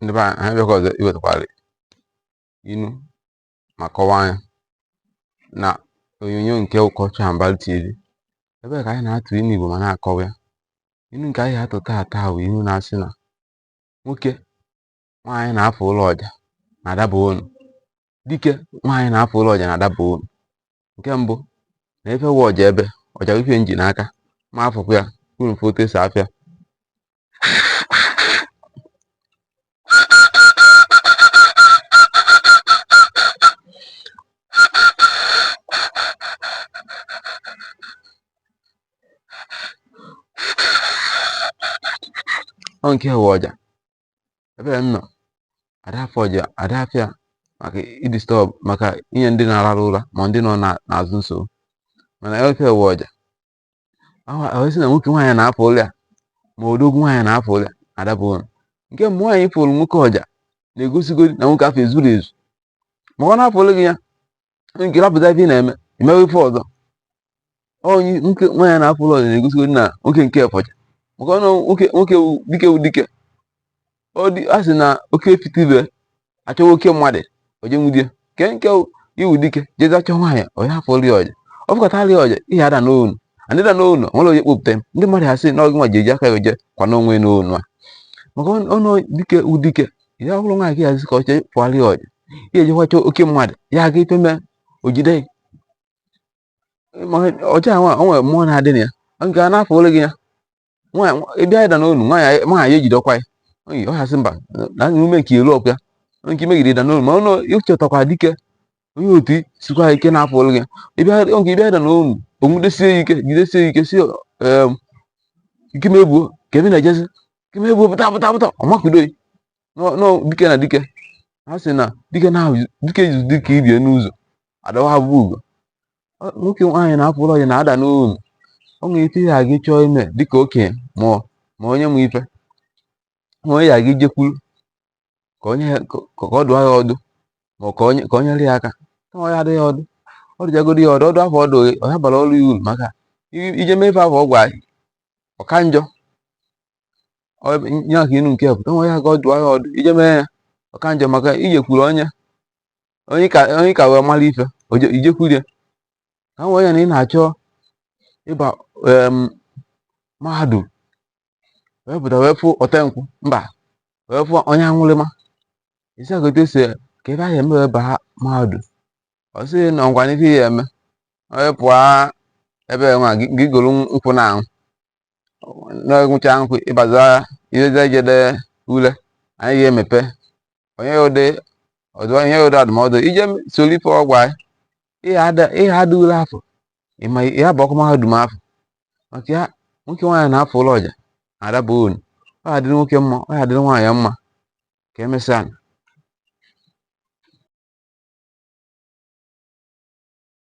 ndị be anyị bịakwa ọzọ iwetakwara inu ma kọwaa ya na onyonyo nke ụkọchị Ambali TV ebe ka anyị na-atụ inu Igbo ma na-akọwa ya inu nke anyị atụ taa taa bụ inu na-asị na nwoke nwaanyị na-afụlụ ọja na-adaba onu dike nwaanyị na-afụlụ ọja na-adaba onu nke mbụ na ife wụ ọja ebe ọja wụ ife m ji n'aka ma afụkwa ya unu fụ otu esi afụ ya ọ nke a wụ ọja ebe m nọ ada afụ ọja ada afụ ya maka idisturb maka inye ndị na-arara ụra ma ndị nọ na- n'azụ nsogbu mana ife wụ ọja a sị na nwoke nwaanyị na-afụlụ ya ma odogwu nwaanyị na-afụlụ ya adaba onu nke mbụ nwaanyị fụlụ nwoke ọja na-egosigo na nwoke afụ ezuro ezu maka ọ na-afụlụ gị ya nke rapụzịa ife ị na-eme ị mewe ife ọzọ onye nwoke nwaanyị na-afụlụ ọja na-egosigo na nwoke nke fụ ọja maka ọ nwoke dike wụ dike ọ dị a sị na oke fitibe achọwa oke mmadụ ọ jee nwudie ike nke ị wụ dike jezi achọ nwaanyị onye afụrụ ị ọja ọ fụkatara ị ọja ị ya ada n'onu andị da n'onu nwere onye kpopụta m ndị mmadụ ha sị na ọ gị nwa ji eji aka ya ọ jee kwanye onwe n'onu a maka ọnụ dike wụ dike ya bụrụ nwaanyị ka ya zi ka ọ chọ fụọrọ ị ọja ya ejekwa chọọ oke mmadụ ya aga ife mee o jide ọja nwa o nwere mmụọ na-adị na ya nke a na-afụlụ gị ya ị bịa ịda n'onu nwaanyị ejidekwa ya oyi ọ ya-asị mba na ume nke elu ọkụ ya nke ị megide ịda n'onu ma ọnụ ị chọtakwa dike onye otu sikwa ike na-afụlụ gị ya nke ị bịa ịda n'onu o nwudesie ike jidesie ike si ike mebuo ka ebe na-ejezi ike mebuo pụta pụta pụta ọmakudo dike na dike ha sị na dike na dike izu dike ibe ya n'ụzọ adawa ha bụ ugo nwoke nwaanyị na-afụlụ ọja na-ada n'onu o nwere ife ị ya aga chọọ ime dịka okenye ma ma onye nwe ife ma onye ya gị jekwuru ka onye ka ọ dụọ ya ọdụ ma ka onye ka o nyere ya aka kama ya adụ gị ọdụ ọ dụjagoro ya ọdụ ọdụ afụ ọdụ ọya bara ọrụ ya uru maka ị jee mee ife afụ ọ gwa ọ ka njọ nye aka inu nke pụta nwa ya ga ọ dụọ ya ọdụ ị jee mee ya ọ ka njọ maka ijekwuru onye onye ka onye ka wee mara ife oje- ijekwuru ya ka m wee ya na ị na-achọ ịba em, mahadum wee pụta wee fụ ọtenkwụ mba wee fụ onye aṅụrụma isi a ka otu esi ka ebe a ga-eme wee baa mahadum ọ sị na ọ gwa n'ife ị ya-eme onye pụọ ebe nwa gị gị goro nkwụ na-aṅụ na ịṅụcha nkwụ ịbaza ileza ijede ule anya gị emepe onye ụdị ọdụ ihe ụdị adụmọdụ ije soro ife ọ gwa ị ị daa ule afụ ịma ya bụ okwu mahadum afụ maka ya nwoke nwaanyị na-afụ ụlọ ọ ja-adaba ọnụ ọ ya-adịrị nwoke mma ọ ya-adịrị nwaanyị mma ka emesịa